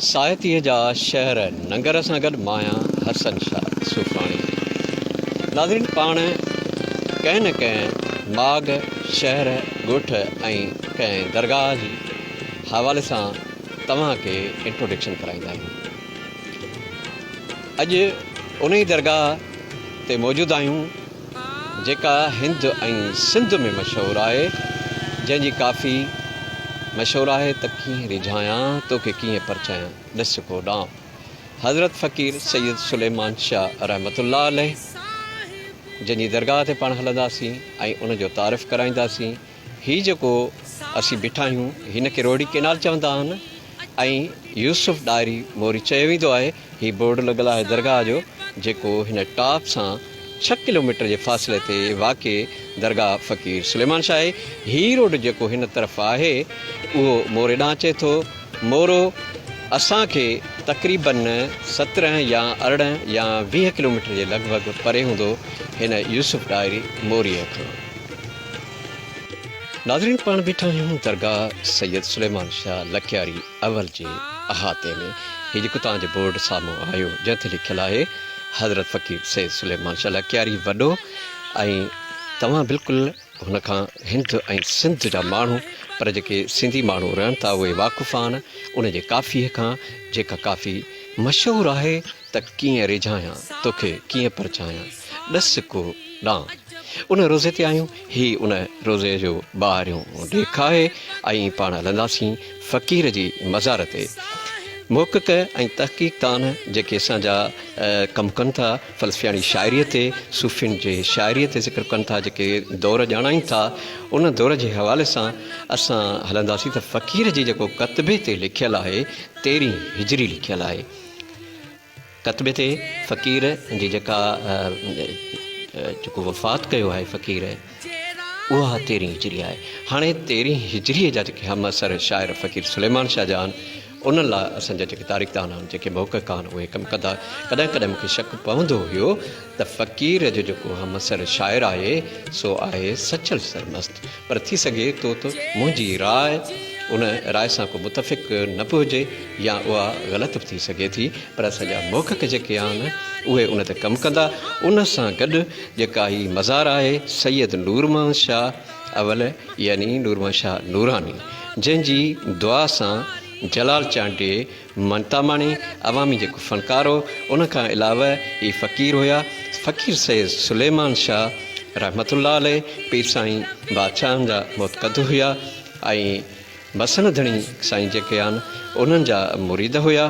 ساهتيء جا شهر ننگر سان گڏ ماهيان حسن شاهه صوفاڻي. ناظرين پاڻ ڪنهن نه ڪنهن ماڳ، شهر، ڳوٺ ۽ ڪنهن درگاهه جي حوالي سان توهان کي انٽروڊڪشن ڪرائيندا آهيون. اڄ انهي درگاهه تي موجود آهيون جيڪا هند ۽ سنڌ ۾ مشهور آهي، جنهن جي ڪافي مشهور آهي ته ڪيئن ريجهايان، توکي ڪيئن پرچايان، ڏس ڪو ڏانء. حضرت فقير سيد سليمان شاهه رحمة الله عليه جنهن جي درگاهه تي پاڻ هلنداسين ۽ ان جو تعارف ڪرائينداسين. هي جيڪو اسين بيٺا آهيون هن کي روهڙي ڪينال چوندا آهن ۽ يوسف ڏاهري موري چيو ويندو آهي. هي بورڊ لڳل آهي درگاهه جو جيڪو هن ٽاپ سان ڇهه ڪلوميٽر جي فاصلي تي واقع درگاهه فقير سليمان شاهه آهي. هي روڊ جيڪو هن طرف آهي اهو موري ڏانهن اچي ٿو. مورو اسان کي تقريبن سترهن يا ارڙهن يا ويهه ڪلوميٽر جي لڳ ڀڳ پري هوندو هن يوسف ڏاهري موريء کان. ناظرين پاڻ بيٺا آهيون درگاهه سيد سليمان شاهه لڪياري اول جي احاطي ۾ هي جيڪو توهان جي بورڊ سامهون آيو جنهن تي لکيل آهي حضرت فقير سيد سليمان شاهه لڪياري وڏو ۽ توهان بلڪل هن کان هند ۽ سنڌ جا ماڻهو پر جيڪي سنڌي ماڻهو رهن ٿا اهي واقف آهن ان جي ڪافي کان جيڪا ڪافي مشهور آهي ته ڪيئن ريجهايان توکي ڪيئن پرچايان ڏس ڪو ڏان ان روضي تي آهيون، هي ان روضي جو ٻاهريون ڏيک آهي ۽ پاڻ هلنداسين فقير جي مزار تي. محقق ۽ تحقيق دان جيڪي اسان جا ڪم ڪن ٿا، فلسفياڻي شاعريء تي، صوفين جي شاعريء تي ذڪر ڪن ٿا، جيڪي دور ڄاڻائين ٿا، ان دور جي حوالي سان اسان هلنداسين ته فقير جي جيڪو ڪتبي تي لکيل آهي، تيرهين هجري لکيل آهي. ڪتبي تي فقير جي جيڪا جيڪو وفات ڪيو آهي فقير اها تيرهين هجري آهي هاڻي تيرهين هجري جا جيڪي هم اثر شاعر فقير سليمان شاهه جا آهن ان لاء اسان جا جيڪي تاريخدان آهن جيڪي محقق آهن اهي ڪم ڪندا ڪڏهن ڪڏهن مونکي شڪ پوندو هيو ته فقير جو جيڪو همعصر شاعر آهي سو آهي سچل سرمست پر ٿي سگهي ٿو ته منهنجي راء ان راء سان ڪو متفق نه به هجي يا اها غلط به ٿي سگهي ٿي پر اسان جا محقق جيڪي آهن اهي ان تي ڪم ڪندا ان سان گڏ جيڪا هي مزار آهي سيد نورمحمد شاهه اول يعني نورمحمد شاهه نوراني جنهن جي دعا سان جلال چانڊيي مهتاماڻي عوامي جيڪو فنڪار هو ان کان علاوه هي فقير هيا فقير سيد سليمان شاهه رحمت الله عليه پير سائين بادشاهن جا متقد هيا ۽ مسند ڌڻي سائين جيڪي آهن انهن جا مريد هيا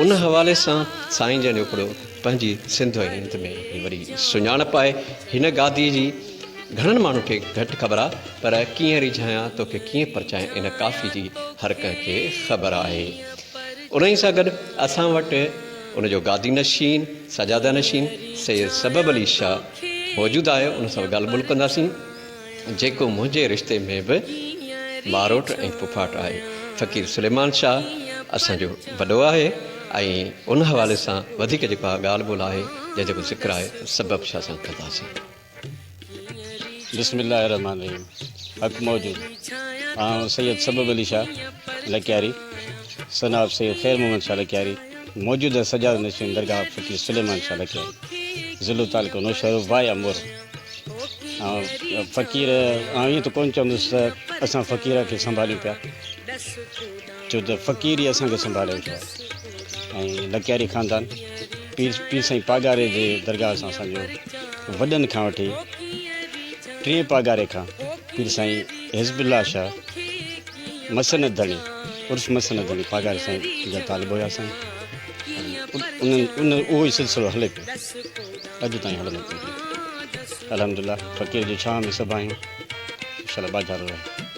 ان حوالي سان سائين جن جو ڪڙو پنهنجي سنڌ ۽ هند ۾ وري سڃاڻپ آهي هن گادي جي گهڻن ماڻهن کي گهٽ خبر آ پر ڪيئن ريجهايان توکي ڪيئن پرچايان ان ڪافي جي هر ڪنهن کي خبر آهي انهي سان گڏ اسان وٽ ان جو گادي نشين سجاده نشين سيد سبب علي شاهه موجود آهي ان سان ڳالهه ٻولهه ڪنداسين جيڪو منهنجي رشتي ۾ به ٻاروٽ ۽ پڦاٽ آهي فقير سليمان شاهه اسان جو وڏو آهي ۽ ان حوالي سان وڌيڪ جيڪو ڳالهه ٻولهه آهي جنهن جو ذڪر آهي سبب شاهه سان ڪنداسين بسم الله الرحمن الرحيم حق موجود آئون سيد سبب علي شاھ لڪياري سن آف سيد خير محمد شاھ لڪياري موجود ہے سجاد نشين درگاہ فقير سليمان شاھ لڪياري ضلع تعلقو نوشهرو وائي امور آئون فقير آئون ايئن ته ڪون چوندس ته اسان فقير کي سنڀاليون پيا ڇو ته فقير ئي اسان کي سنڀالي ويٺو آهي ۽ لڪياري خاندان پير پير سائين پاڳاري جي درگاهه سان اسان جو وڏن کان وٺي ٽئين پاڳاري کان پير سائين حزب الله شاهه مسند ڌڻي عرف مسند ڌڻي پاڳاري سائين جا طالب هيا سائين انهن ان اهو ئي سلسلو هلي پيو اڄ تائين هلندو پيو الحمدلله فقير جي ڇانو ۾ سڀ آهيون انشاءالله باجارو رهي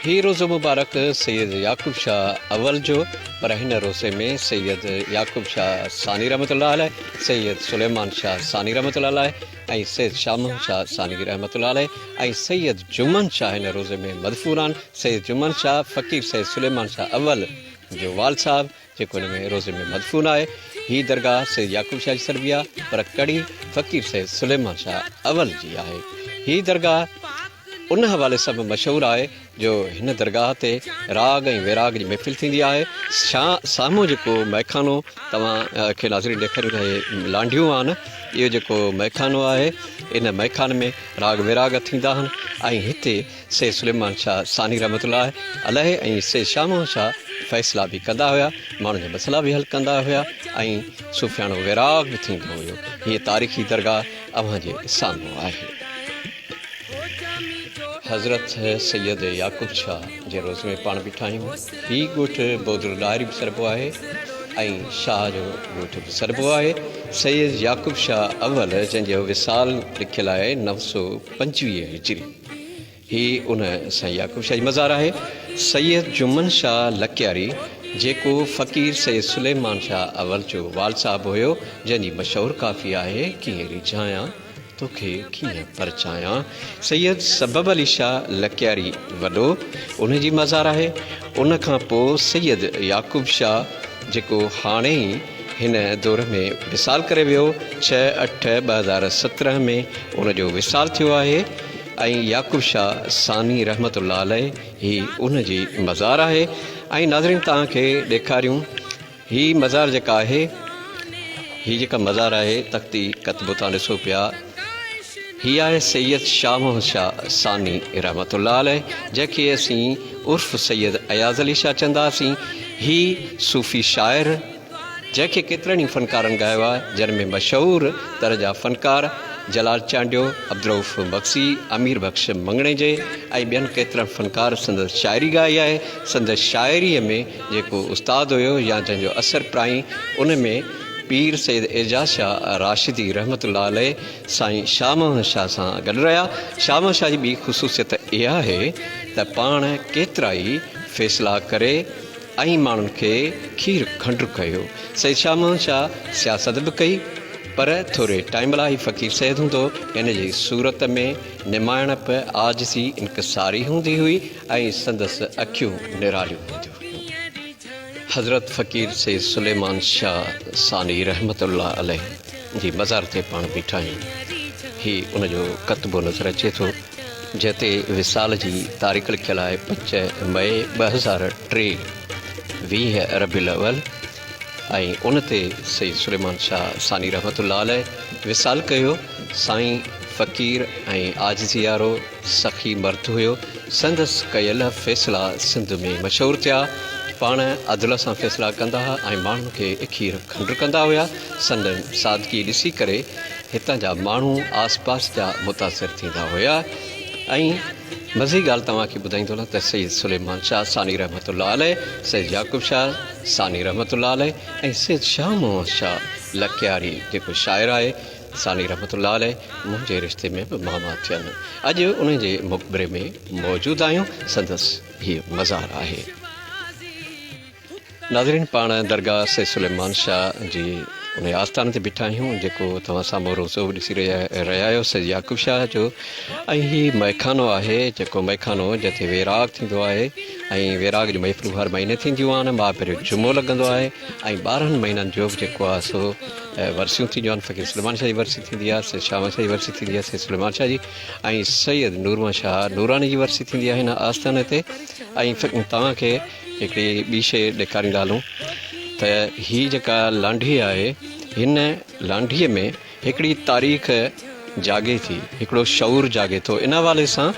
هي روزو مبارڪ سيد يعقوب شاهه اول جو پر هن روزي ۾ سيد يعقوب شاهه ثاني رحمة الله عليه، سيد سليمان شاهه ثاني رحمة الله عليه ۽ سيد شاهه محمد شاهه ثاني رحمة الله عليه ۽ سيد جمن شاهه هن روزي ۾ مدفونان سيد جمن شاهه فقير سيد سليمان شاهه اول جو والد صاحب جيڪو هن ۾ روضي ۾ مدفون آهي. هي درگاهه سيد يعقوب شاهه جي سربيا پر ڪڙي فقير سيد سليمان شاهه اول جي آهي. هي درگاهه ان حوالي سان به مشهور آهي جو هن درگاهه تي راڳ ۽ ويراڳ جي محفل ٿيندي آهي. سامهون جيڪو مئخانو توهان کي ناظرين ڏيکاريون ٿا هي لانڍيون آهن. اهو جيڪو مئخانو آهي ان مئخاني ۾ راڳ ويراڳ ٿيندا آهن ۽ هتي سيد سليمان شاهه ثاني رحمة الله عليه ۽ سيد شاهه محمد شاهه فيصلا به ڪندا هيا، ماڻهن جا مسئلا به حل ڪندا هيا ۽ صوفياڻو ويراڳ به ٿيندو هيو. هيء تاريخي درگاهه اوهان جي سامهون آهي. حضرت سيد يعقوب شاهه جي روضي ۾ پاڻ بيٺا آهيون. هي ڳوٺ بودل ڏاهري به سڏبو آهي ۽ شاهه جو ڳوٺ به سڏبو آهي. سيد يعقوب شاهه اول جنهن جو وصال لکيل آهي نو سؤ پنجويهه هجري. هي ان سائين يعقوب شاهه جي مزار آهي. سيد جمن شاهه لڪياري جيڪو فقير سيد سليمان شاهه اول جو وال صاحب هيو جنهن جي مشهور ڪافي آهي ڪيئن ريجهايان توکي ڪيئن پرچايان سيد سبب علي شاهه لڪياري وڏو ان جي مزار آهي ان کان پوء سيد يعقوب شاهه جيڪو هاڻي ئي هن دور ۾ وصال ڪري ويو، ڇهه اٺ ٻه هزار سترهن ۾ ان جو وصال ٿيو آهي ۽ يعقوب شاهه ثاني رحمة الله عليه هي ان جي مزار آهي ۽ ناظرين توهان کي ڏيکاريون هي مزار جيڪا آهي هي جيڪا مزار آهي تختي ڪتبو توهان ڏسو پيا، هي آهي سيد شاهه محمد شاهه ثاني رحمة الله عليه جنهن کي اسين عرف سيد اياز علي شاهه چونداسين. هي صوفي شاعر جنهن کي ڪيترن ئي فنڪارن ڳايو آهي جن ۾ مشهور تر جا فنڪار جلال چانڊيو، عبدالرئوف مگسي، امير بخش مڱڻيجي ۽ ٻين ڪيترن فنڪار سندس شاعري ڳائي آهي. سندس شاعريء ۾ جيڪو استاد هيو يا جنهن جو اثر پرائين ان ۾ پير سيد اعجاز شاهه راشدي رحمة الله عليه سائين شاهه محمد شاهه سان گڏ رهيا. شاهه محمد شاهه جي ٻي خصوصيت اها آهي ته پاڻ ڪيترائي فيصلا ڪري ۽ ماڻهن کي کير کنڊ ڪيو. سيد شاهه محمد شاهه سياست به ڪئي پر ٿوري ٽائيم لاء هي فقير سيد هوندو هن جي صورت ۾ نماڻپ، عاجزي، انڪساري هوندي هئي ۽ سندس اکيون نراليون هونديون هيون. حضرت فقير سيد سليمان شاھ ثاني رحمة الله عليه جي مزار تي پاڻ بيٺا آهيون. هي ان جو ڪتبو نظر اچي ٿو، جنهن تي وصال جي تاريخ لکيل آهي، پنج مئي ٻه هزار ٽي، ويهه ربيع الاول، ۽ ان تي سيد سليمان شاھ ثاني رحمة الله عليه وصال ڪيو، سائين فقير ۽ عاجزيء وارو، سخي مرد هيو، سندس ڪيل فيصلا سنڌ ۾ مشهور ٿيا. پاڻ عدل سان فيصلا ڪندا ها ۽ ماڻهن کي اکير کنڊر ڪندا هيا. سندن سادگي ڏسي ڪري هتان جا ماڻهو آس پاس جا متاثر ٿيندا هيا ۽ مزي ڳالهه توهان کي ٻڌائيندو هلان ته سيد سليمان شاهه ثاني رحمت الله عليه، سيد يعقوب شاهه ثاني رحمت الله عليه ۽ سيد شاهه محمد شاهه لڪياري جيڪو شاعر آهي، ثاني رحمت الله عليه منهنجي رشتي ۾ به ماما ٿين. اڄ انهن جي مقبري ۾ موجود آهيون، سندس هيء مزار آهي. ناظرين پاڻ درگاهه سيد سليمان شاهه جي انهي آستان تي بيٺا آهيون جيڪو توهان سامهون روضو به ڏسي رهيا آهيو سيد يعقوب شاهه جو ۽ هي مئخانو آهي جيڪو مئخانو جتي ويراڳ ٿيندو آهي ۽ ويراڳ جون محفلون هر مهيني ٿينديون آهن مهاپير جو جمعو لڳندو آهي ۽ ٻارهن مهينن جو جيڪو آهي سو ورسيون ٿينديون آهن فقير سليمان شاهه جي ورسي ٿيندي آهي سيد شاهه شاهه جي ورسي ٿيندي آهي سيد سليمان شاهه جي ۽ سيد نورمحمد شاهه نوراني جي ورسي ٿيندي آهي هن آستاني تي ۽ توهان کي هڪڙي ٻي شيء ڏيکاريندا هلون ته هي جيڪا لانڍي آهي هن لانڍيء ۾ هڪڙي تاريخ جاڳي ٿي، هڪڙو شعور جاڳي ٿو ان حوالي سان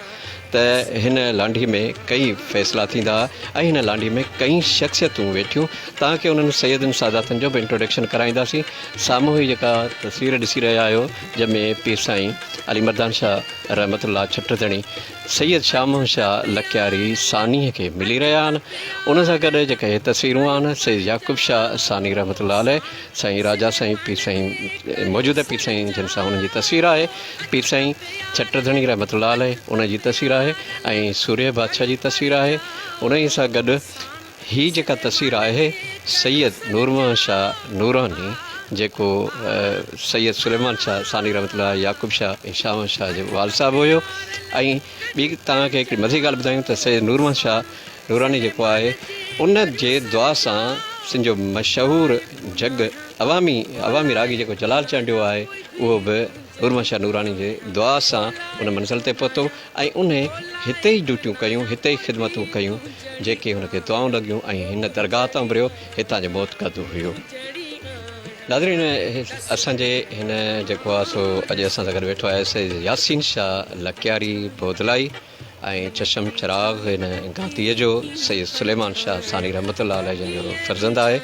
ته هن لانڍي ۾ ڪئي فيصلا ٿيندا ۽ هن لانڍي ۾ ڪئي شخصيتون ويٺيون تان ڪي انهن سيدن ساداتن جو به انٽروڊڪشن ڪرائينداسين سامهون هي جيڪا تصوير ڏسي رهيا آهيو جنهن ۾ پير سائين علي مردان شاهه رحمت الله ڇٽ ڌڻي سيد شاهه محمد شاهه لڪياري ثاني کي ملي رهيا آهن ان سان گڏ جيڪا هي تصويرون آهن سيد يعقوب شاهه ثاني رحمت الله عليه سائين راجا سائين پير سائين موجوده پير سائين جن سان انهن جي تصوير آهي پير سائين ڇٽ ڌڻي رحمت الله عليه انهن جي تصوير آهي ۽ سورهيه بادشاهه جي تصوير آهي انهي سان گڏ هي جيڪا تصوير آهي سيد نور محمد شاهه نوراني جيڪو سيد سليمان شاهه ثاني رحمت الله يعقوب شاهه ۽ شاهه محمد شاهه جو والد صاحب هيو ۽ ٻي توهان کي هڪڙي مزي ڳالهه ٻڌايون ته سيد نور محمد شاهه نوراني جيڪو آهي ان جي دعا سان سنڌ جو مشهور جڳ عوامي عوامي راڳي جيڪو جلال چانڊيو آهي اهو به نورمحمد شاهه نوراني جي دعا سان ان منزل تي پهتو ۽ ان هتي ئي ڊيوٽيون ڪيون هتي ئي خدمتون ڪيون جيڪي هن کي دعائون لڳيون ۽ هن درگاهه تان انبريو هتان جو معتقد هيو ناظرين اسان جي هن جيڪو آهي سو اڄ اسان سان گڏ ويٺو آهي سيد ياسين شاهه لڪياري بودلائي ۽ چشم چراغ هن گاديء جو سيد سليمان شاهه ثاني رحمت الله عليه جن جو فرزند آهي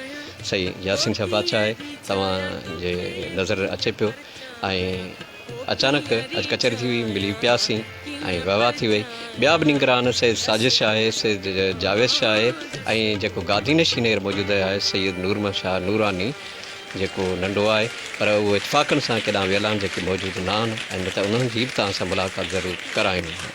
سائين ياسين شاهه بادشاهه آهي توهان جي نظر اچي پيو ۽ اچانڪ اڄ ڪچهري ٿي هئي ملي پياسين ۽ واهه واهه ٿي وئي ٻيا به نگران سيد ساجد شاهه آهي سيد جاويد شاهه آهي ۽ جيڪو گادي نشين هينئر موجود آهي سيد نورمحمد شاهه نوراني جيڪو ننڍو آهي پر اهو اتفاقن سان ڪيڏانهن ويل آهن جيڪي موجود نه آهن ۽ نه ته انهن جي به توهان سان ملاقات ضرور ڪرائيندو آهيان.